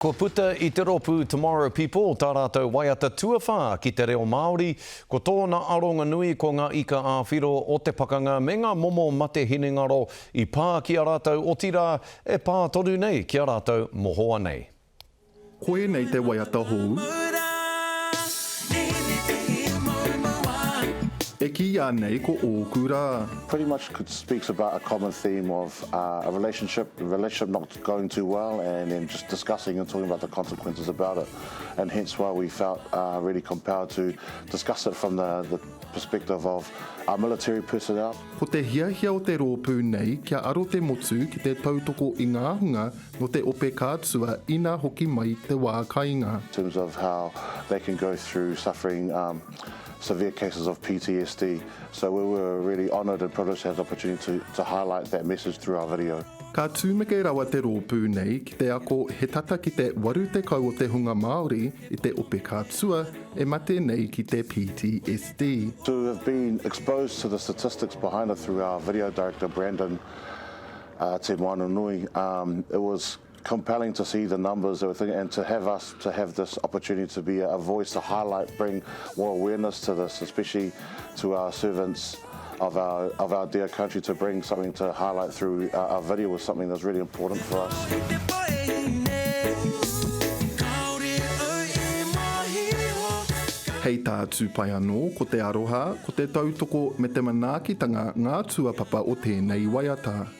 Kua puta i te rōpū Tomorrow People tā rātou waiata tuawhā ki te reo Māori, ko tōna aronga nui ko ngā ika ā-whiro o te pakanga me ngā momo mate hinengaro i pā ki a rātou otirā e pā tonu nei ki a rātou mohoa nei. Koinei te waiata hou. E kīia nei ko ōku rā. Pretty much speaks about a common theme of a relationship, relationship not going too well and then just discussing and talking about the consequences about it. And hence why we felt uh, really compelled to discuss it from the, the perspective of our military personnel. Ko te hiahia o te rōpū nei kia aro te motu ki te tautoko i ngā hunga no te ope kātua ina hoki mai te wā kainga. In terms of how they can go through suffering um, severe cases of PTSD. So we were really honoured and privileged to have the opportunity to, to highlight that message through our video. Ka tumeke rawa te rōpū nei ki te ako he tata ki te 80 o te hunga Māori i te ope kātua e mate nei ki te PTSD. To have been exposed to the statistics behind it through our video director Brandon uh, Te Moananui, um, it was compelling to see the numbers that we're thinking and to have us to have this opportunity to be a voice to highlight bring more awareness to this especially to our servants of our of our dear country to bring something to highlight through our, our video was something that's really important for us Hei tā Tūpai anō, ko te aroha, ko te tautoko me te manaakitanga ngā tuapapa o tēnei waiata.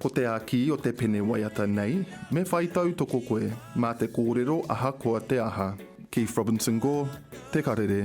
Ko te āki o te pene waiata nei, me whai tautoko koe, mā te kōrero ahakoa te aha. Keith Robinson Gore, Te Karere.